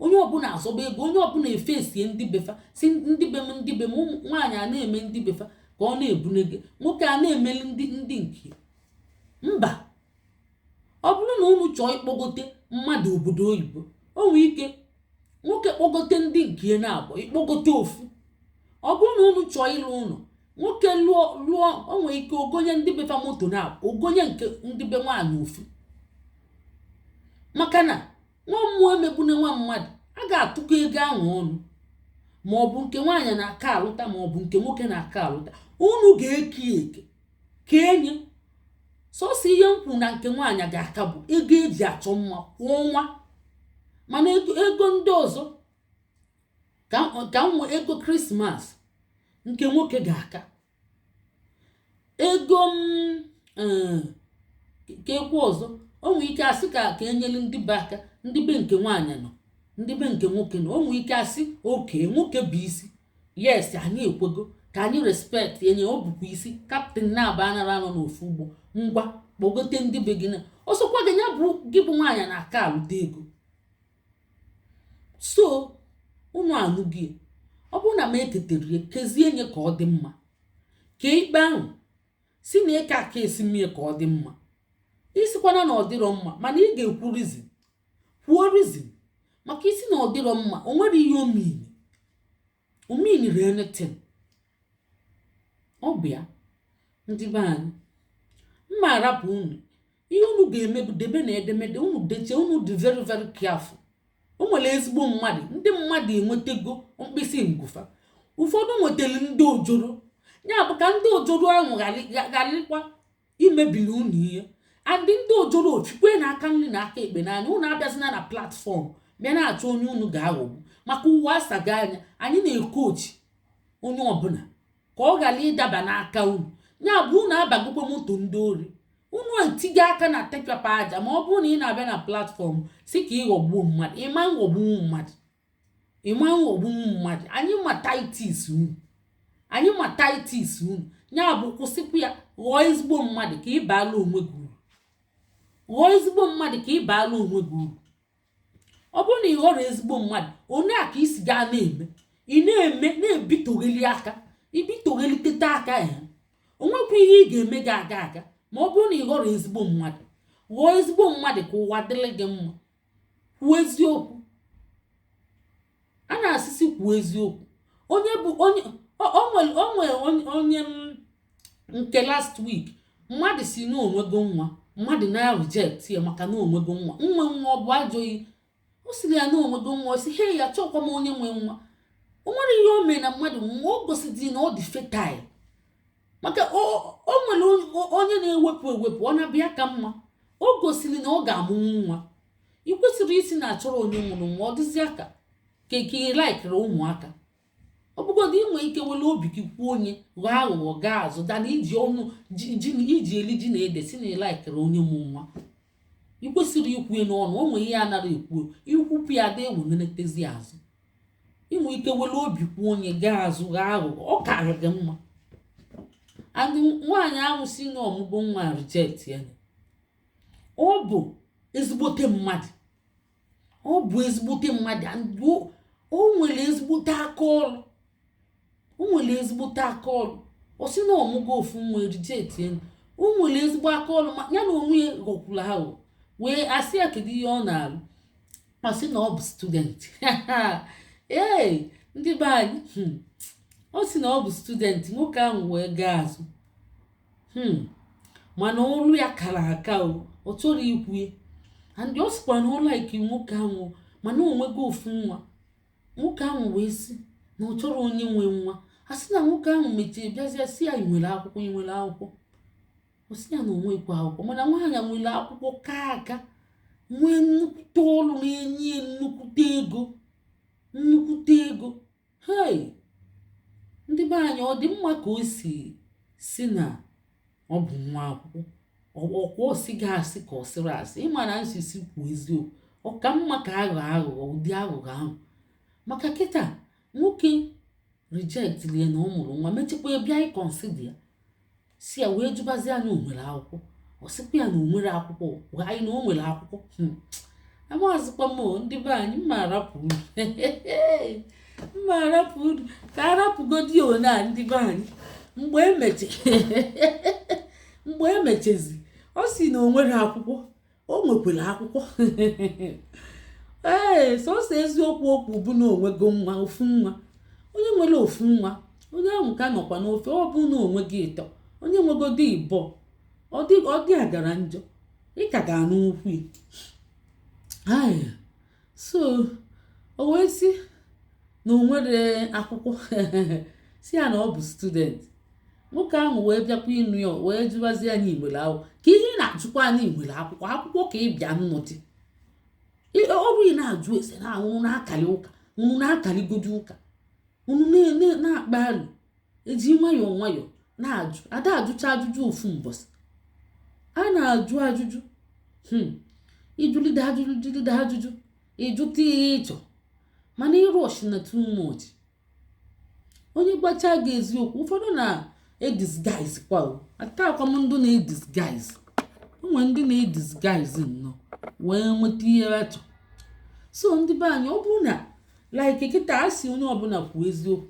onye ọbụla azọba ego onye ọbụla efesie ndị befa sị ndị be m ndị be m ụmụ nwaanyị a na-eme ndị befa ka ọ na-ebunege nwoke a na-emeli ndị ndị nke mba ọ bụrụ na unu chọọ ịkpọgote mmadụ obodo oyibo o nwee ike nwoke kpọgote ndị nke naabọ ị kpọgote ofu ọ bụrụ na unu chọọ ịlụ ụnọ nwoke lụọ o nwee ike o gonye ndị befa moto naabọ o gonye nke ndị be nwaanyị ofu maka na nwa mmụọ emegbune nwa mmadụ a ga-atụkọ ego anwa ọnụ ma ọ bụ nke nwaanyị na-aka alụta ma ọ bụ nke nwoke na-aka alụta unu ga-eke eke kenye sọsọ ihe m kwu na nke nwaanyị ga-aka bụ ego e ji achọ mma kwa ọnwa mana ego ndị ọzọ ka nwe ego krismas nke nwoke ga-aka ego m um ka e kwuo ọzọ o nwee ike asị ka ka enyere ndị be aka ndị be nke nwaanyị nọ ndị be nke nwoke nọ o nwee ike asị okay nwoke bụ isi yes anyị ekwego ka anyị respect enye ọ bụkwa isi captain naabọ anarọ anọ n'ofu ụgbọ ngwa kpọgote ndị be gị na ọ sọkwa gị ya bụrụ gị bụ nwaanyị na-aka alụta ego so unu anụghị ya. ọ bụrụ na m etetere ya kezie nye ka ọ dị mma kee ikpe ahụ si na eke a ka esi mee ya ka ọ dị mma isikwana na ọ dịrọ mma mana ị ga-ekwu rizin kwuo rizin maka isi na ọ dịrọ mma o nwere ihe o miri o meaniri anything ọ bụ ya ndị be anyị mma arapụ unu ihe unu ga-eme bụ debe na edemede unu deche unu dị very very careful o nwere ezigbo mmadụ ndị mmadụ enwetago mkpịsị ngụ fa ụfọdụ nwetara ndị ojoro ya bụ ka ndị ojoro ahụ gharịkwa imebili unu ihe and ndị ojoro ochikwe na aka nri na aka ekpe n'anya unu abịazina na platfọm bịa na-achọ onye unu ga-aghọgbu maka ụwa asago anya anyị na-ekochi onye ọbụla ka ọ ghara ịdaba n'aka unu ya bụ unu abagokwa moto ndị ori unu etigo aka na tipa pa aja ma ọ bụrụ na ị na-abịa na platfọm si ka ịghọgbuo mmadụ ịma nghọgbunwu mmadụ ịma ghọgbunwu mmadụ anyị ma tactics unu anyị ma tactics unu ya bụ kwụsịkwa ya ghọọ ezigbo mmadụ ka ị baala onwe gị uru ghọọ ezigbo mmadụ ka ị baala onwe gị uru ọ bụrụ na ị ghọrọ ezigbo mmadụ onye a ka isi gaa na-eme ị na-eme na-ebitogheli aka ibitoghelikete aka ya onwekwa ihe ị ga-eme ga-aga aga ma ọ bụrụ na ị ghọrọ ezigbo mmadụ ghọọ ezigbo mmadụ ka ụwa dịrị gị mma kwuo eziokwu a na-asị sị kwuo eziokwu onye bụ onye onwe onye nke last week mmadụ si na onwego nwa mmadụ na-reject ya maka na onwego nwa nwa nwa ọ bụ ajọ ihe o siri ya na onwego nwa si he ya chọkwa m onye nwe nwa o nwere ihe o mee na mmadụ nwa o gosidi na ọ dị fertile maka o nwere onye na-ewepụ ewepụ ọ na-abịa ka mma o gosiri na ọ ga-amụnwu nwa ị kwesịrị isi na achọrọ onye mụrụ nwa ọ dịzi aka ka eke ị laikiri ụmụaka ọ bụgodị inwe ike were obi gị kwuo onye ghọọ aghụghọ gaa azụ than iji ọnụ iji eli ji na ede si na ịlaikiri onye mụ nwa ị kwesịrị ikwu ya n'ọnụ o nwee ihe a nara ekwu ikwupụ ya dị ewenetezi azụ inwe ike were obi kwuo onye gaa azụ ghọọ aghụghọ ọ karị gị mma and nwaanyị ahụ si na ọmụgo nwa reject ya ọ bụ ezigbote mmadụ ọ bụ ezigbote mmadụ o nwere ezigbote aka ọrụ o nwere ezigbote aka ọrụ ọ sị na ọmụgo ofu nwa e reject ya o nwere ezigbo aka ọrụ ma ya na onwe ya ghọkwuru ahụ wee asị ya kedu ihe ọ na-alụ ọ sị na ọ bụ student ee ndị be anyị hmm, ọ sị na ọ bụ student nwoke ahụ wee gaa azụ hmm. mana ọlụ ya kara aka ọ chọrọ ikwu ya and ọ sịkwa na ọ like nwoke ahụ mana onwego ofu nwa nwoke ahụ wee sị na ọ chọrọ onye nwe nwa a sị na nwoke ahụ mechie bịazie si ya ị nwere akwụkwọ ị nwere akwụkwọ ọ sị ya na onwekwa akwụkwọ mana nwaanyị nwere akwụkwọ ka aka nwee nnukwute ọrụ na-enye nnukwute ego nnukwute ego Hei! Ndị be anyị ọ dị mma ka o si si na ọ bụ nwa akwụkwọ ọkwa o sighị asị ka ọ sịrị asị ịma na a sị sị kwuo eziokwu ọ ka mma ka aghọ aghụghọ ụdị aghụghọ ahụ maka kịta nwoke rejectili ya na ọ mụrụ nwa mechakwa bịa iconsider ya si ya wee jụbazi ya na onwere akwụkwọ ọ sịkwa ya na onwere akwụkwọ gwa anyị na o nwere akwụkwọ hmm. amazikwa m ndị be anyị mma arapụ unu mma arapụ unu ka arapụgodi one a ndị be anyị mgbe mgbe emechezi ọ si na onwere akwụkwọ o nwekwara akwụkwọ ee sọsọ eziokwu okwu bụ na onwego nwa ofu nwa onye nwere ofu nwa onye ahụ ka nọkwa n'ofe ọ bụ na onwego ịtọ onye nwegodi ịbọ ọ dị agara njọ ị ka ga-anụ okwu so o wee sị na o nwere akwụkwọ si ya na ọ bụ student nwoke ahụ wee bịakwa ịnụ ya wee jụbazi ya na i nwere akwụkwọ kee ihe ị na-ajụkwa na i nwere akwụkwọ akwụkwọ ka ị bịa ịnụdị ọ bụ ị na-ajụ ese na unu na-akali ụka unu na-akaligodi ụka unu na-akpa alụ eji nwayọọ nwayọọ na-ajụ ada ajụcha ajụjụ ofu mbọsị a na-ajụ ajụjụ hmm. ijụlide ajụjụ jụlide ajụjụ ịjụta ihe ịchọ mana ị rushi na too much onye gbacha gị eziokwu ụfọdụ na-edisguise kwa o atakwa m ndị na-edisguise onwe ndị na-edisguise nnọọ wee nweta ihe achọ so ndị be anyị ọ bụrụ na like kịta a sị onye ọbụla kwuo eziokwu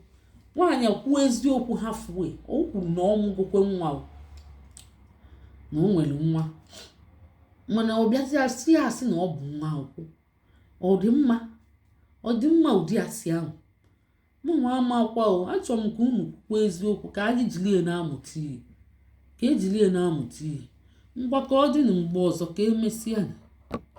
nwaanyị kwuo eziokwu halfway o kwuru na ọ mụgokwe nwa na o nwere nwa mana ọ bịazịa si ya asị na ọ bụ nwa akwụkwọ ọ dị mma ọ dị mma ụdị asị ahụ mụ nwa amakwa o achọrọ m ka unu kwuo eziokwu ka anyị jiri ya na-amụta ihe ka ejiri ya na-amụta ihe ngwa ka ọ dị na mgbe ọzọ ka emesịa